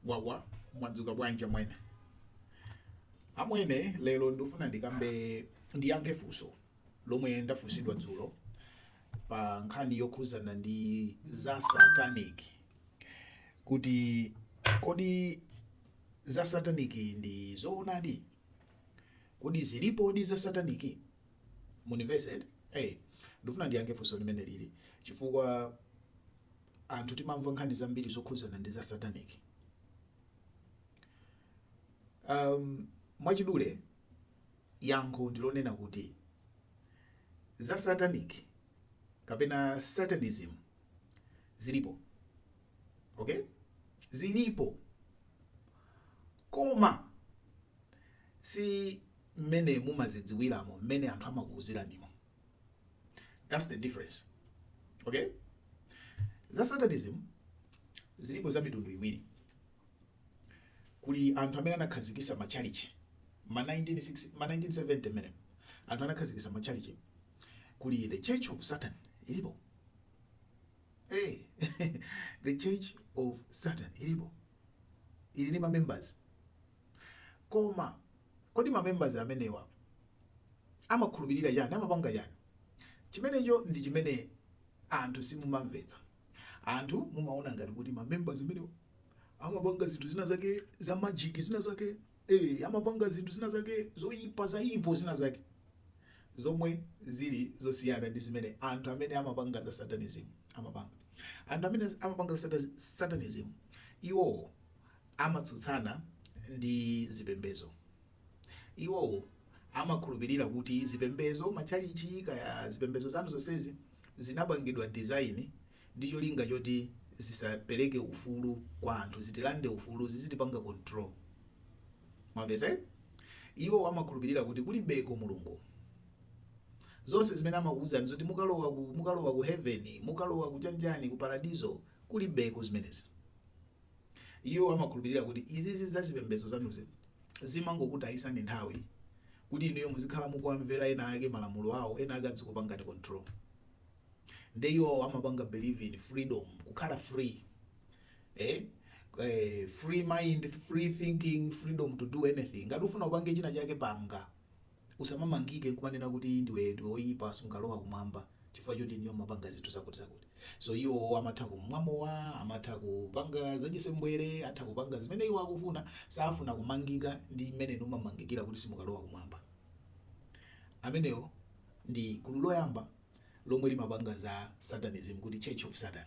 wawa mwadzuka bwanji amwene amwene lero ndifuna ndikambe ndiyankhe funso lomwe ndafunsidwa dzulo pa nkhani yokhuzana ndi za satanic kuti kodi za satanic ndi zoonadi kodi zilipodi za satanic munivesete hey, ndifuna ndiyankhe funso limene lili chifukwa anthu timamva nkhani zambiri zokhudzana ndi za satanic. Um, mwachidule yankho ndilonena kuti za satanic kapena satanism zilipo okay zilipo koma si mmene mumazidziwiramo mmene anthu amakuuziranimo that's the difference okay za satanism zilipo za mitundu iwiri kuli anthu amene anakhazikisa machalichi ma 1960 ma 1970 mene anthu anakhazikisa machalichi kuli the church of satan ilipo hey, the church of satan ilipo ili ni mamembers koma kodi mamembers amenewa amakhulupirira chani amapanga chani chimenecho ndi chimene anthu simumamvetsa anthu mumaona ngati kuti ma members amenewa amapanga zinthu zina zake za magic zina zake eh amapanga zinthu zina zake zoyipa za evil zina zake zomwe zili zosiyana ndi zimene anthu amene amapanga za satanism amapanga anthu amene amapanga za sata- satanism iwo amatsutsana ndi zipembezo Iwo amakhulupirira kuti zipembezo, matchalitchi kaya zipembezo zanu zonsezi zinapangidwa design ndi cholinga choti zisapereke ufulu kwa anthu, zitilande ufulu, zizitipanga control. Mwamvetsa? Iwo amakhulupirira kuti kulibeko Mulungu. Zonse zimene amakuuzani zoti mukalowa ku mukalowa ku heaven, mukalowa ku chani chani ku paradizo kulibeko zimenezi. Iwo amakhulupirira kuti izizi za zipembedzo zanuzi zimangokutayisani nthawi kuti inuyo muzikhala mukuwamvera ena ake malamulo awo, ena ake adzikupangani control. Nde iwowo amapanga believe in freedom, kukhala free, eh, eh, free mind, free thinking, freedom to do anything. Ngati ufuna upange china chake panga, Usamamangike kumanena kuti ndiwe ndiwe oyipa sungalowa kumwamba chifukwa choti inuyo mumapanga zinthu zakuti zakuti so iwo amatha kumwa mowa amatha kupanga zachisembwere atha kupanga zimene iwo akufuna safuna kumangika ndi mmene inu mmamangikira kuti simukalowa kumwamba amenewo ndi gulu loyamba lomwe limapanga za satanism kuti church of satan.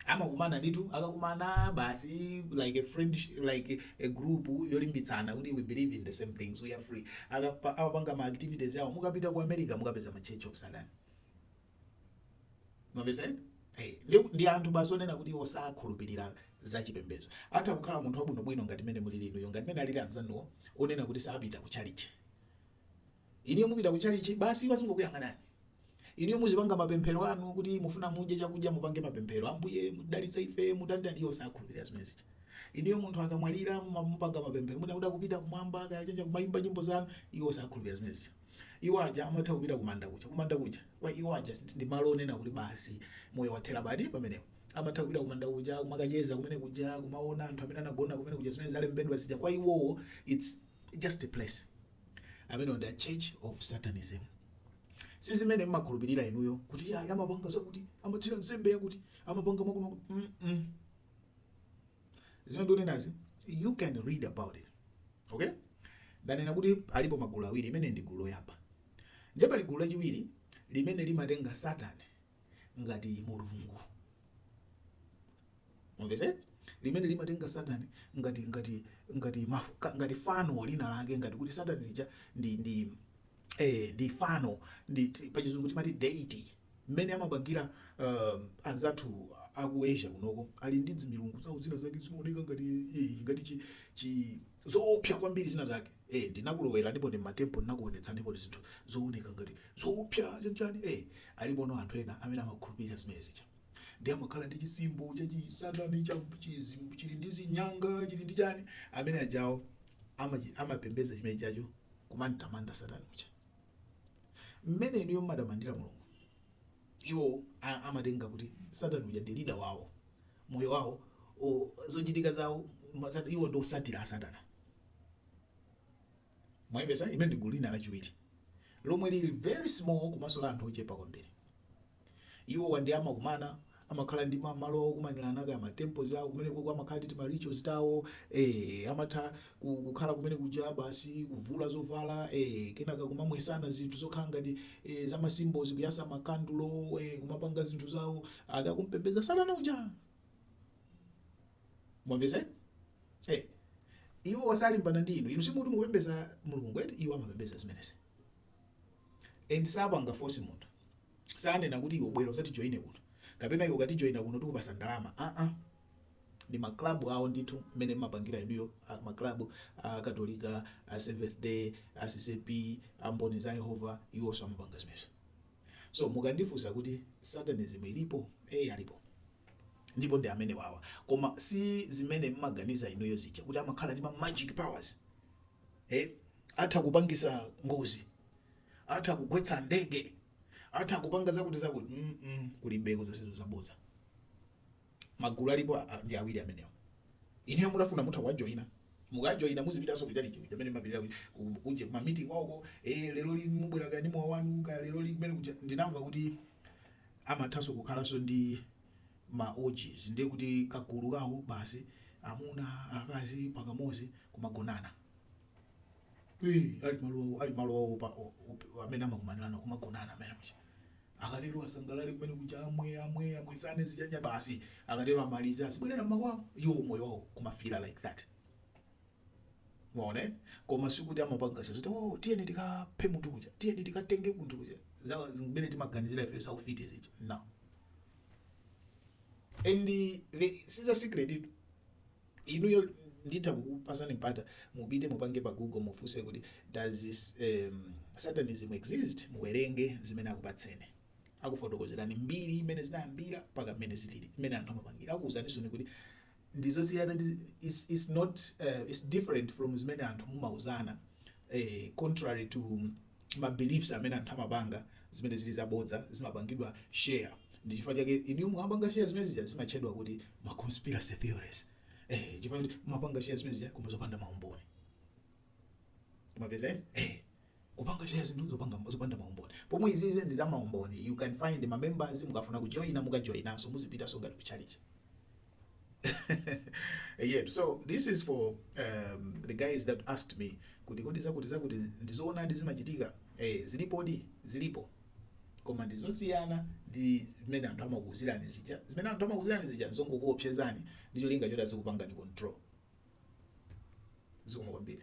amakumana ndithu akakumana basi like a friend like a group yolimbitsana kuti we believe in the same things we are free Akapa- amapanga ma activities awo mukapita ku america mukapeza ma church of satan mwamvetsa hey, ndi, ndi anthu basi onena kuti iwo sakhulupirira za chipembedzo atha kukhala munthu wabwinobwino ngati mene muli inuyo ngati mene alili anzanuwo onena kuti sapita ku tchalitchi Inuyo mupita ku tchalitchi, basi iwo azingokuyang'anani. Inuyo muzipanga mapemphero anu, kuti mufuna mudye chakudya, mupange mapemphero, Ambuye, mutidalitse ife, mutani-tani, iwo sakhulupirira zimene zija. Inuyo munthu akamwalira, mumapanga mapemphero, mwina kuti akupita kumwamba, kaya chanji, kumayimba nyimbo zanu, iwo sakhulupirira zimene zija. Iwo aja amatha kupita kumanda kuja. Kumanda kuja, kwa iwo aja, ndi malo onena kuti basi moyo wathera pati? Pamenepo. Amatha kupita kumanda kuja, kumakacheza kumene kuja, kumawona anthu amene anagona kumene kuja, zimene zalembedwa zija, kwa iwowo it's just a place. Amenewo ndi a church of satanism. Sizimene mumakhulupirira inuyo kuti iyayi amapanga zakuti, amatsira nsembe yakuti, amapanga mwakuti mwakuti mm zimene ndikunenazi you can read about it okay. Ndanena kuti alipo magulu awiri, limeneli ndi gulu loyamba. Ndiye pali gulu lachiwiri limene limatenga Satan ngati Mulungu. Mwamvetsera? Limene limatenga Satan ngati ngati ngati maf, ngati fano lina lake ngati kuti Satan lija ndi ndi eh ndi fano ndi pachizungu timati deity mmene amapangira uh, anzathu aku Asia kunoko ali ndi dzimilungu zawo zina zake zimaoneka ngati eh, ngati chi, chi zoopsa kwambiri zina zake ee ndinakulowetsanipo m'matempo ndinakuonetsanipo zinthu zooneka ngati zoopsa chanichani ee aliponso anthu ena amene amakhulupirira zimene zija ndiye amakhala ndi chidzimbo cha chisatani cha chizi chili ndi zinyanga chili ndi chani amene ajawo amachi- amapembedza chimene chijacho kumamtamanda satani uja mmene inuyo mumatamandira mulungu iwo a- amatenga kuti satani uja ndi leader wawo moyo wawo o- zochitika zawo ma- sat- iwo ndi otsatira a Satana Mwamvetsa? Limeneli ndi gulu lina lachiwiri, lomwe lili very small komanso la anthu ochepa kwambiri. Iwowa ndiye amakumana, amakhala ndi ma malo awo okumanirana, kaya ma temples awo, kumene koko amakhala ndi tima rituals tawo, eeh, amatha ku, kukhala kumene kuja basi kuvula zovala, eeh, kenaka kumamwetsana zinthu zokhala ngati, eeh, za ma symbols, kuyatsa ma kandulo, eeh, kumapanga zinthu zawo, ati akumpembedza Satana uja! mwamvetsa eh iwowa salimbana ndi inu inu si mukuti mupembedza mulungu eti iwo amapembedza zimenezi and sapanga force munthu sanena kuti iwe bwera uzatijoine kuno kapena iwe ukatijoina kuno tikupatsa ndalama aa uh -uh. ndi maklabu awo ndithu mmene mumapangira inuyo ah, maklabu akatolika a seventh day a ccap a mboni za yehova iwonso amapanga zimenezo So mukandifunsa kuti satanism ilipo? Eeh alipo ndipo ndi amenewawa koma si zimene mmaganiza inuyo zija kuti amakhala ndi ma magic powers eh? atha kupangisa ngozi atha kugwetsa ndege atha kupanga zakuti zakuti mm -mm, kulibeko zonsezo ndi zabodza. Magulu alipo a, ndi awiri amenewo. Inuyo mutafuna mutha kuwajoina. Mukajoina muzipitanso ku chalichi kuja kumene mumapitira ku, ku, kunja kuma meeting kwawoko. Eh, leroli mubwera kaya ndi mowa wanu kaya leroli kumene kuja. Ndinamva kuti amathanso kukhalanso ndi ma orgies ndiye kuti kagulu kawo basi amuna akazi pakamodzi kumagonana. Eh, ali malo awo, ali malo awo pa o- op- amene amakumanirana kumagonana amene muja. Akatero asangalale kumene kuja amwe amwe amwesane zinyanya basi. Akatero amalize azibwerera mmakwawo. Iwo moyo wawo kumafila like that. Mwaona eh? Koma sikuti amapanga zoti oh tiyeni tikaphe munthu kuja. Tiyeni tikatenge munthu kuja. Zawo zimene timaganizira ife za ufiti zija. No. And the, this is a secret itu. Inuyo nditha kukupasani mpata mupite mupange pa google mufunse kuti does um satanism exist muwerenge zimene akupatseni akufotokozerani mbiri imene zinayambira mpaka mmene zilili mmene anthu amapangira akuwuzaninso kuti ndizosiyana ndi is, is not uh, is different from zimene anthu mumauzana eh, contrary to ma beliefs amene anthu amapanga zimene zili zabodza zimapangidwa share ndi chifukwa chake inu mumapanga share zimene zija zimatchedwa kuti ma conspiracy theories eh chifukwa kuti mumapanga share zimene zija koma zopanda maumboni mwapeza eh kupanga share zinthu zopanga zopanda maumboni pomwe izizi ndi za maumboni you can find ma members mukafuna kujoina mukajoinanso muzipitanso ngati ku church yeah so this is for um, the guys that asked me kuti kodi zakuti zakuti ndizoonadi zimachitika eh, zilipodi zilipo koma ndizosiyana ndi zimene anthu amakuuzirani zija zimene anthu amakuuzirani zija nzongokuopsezani ndi cholinga choti azikupangani control zikomo kwambiri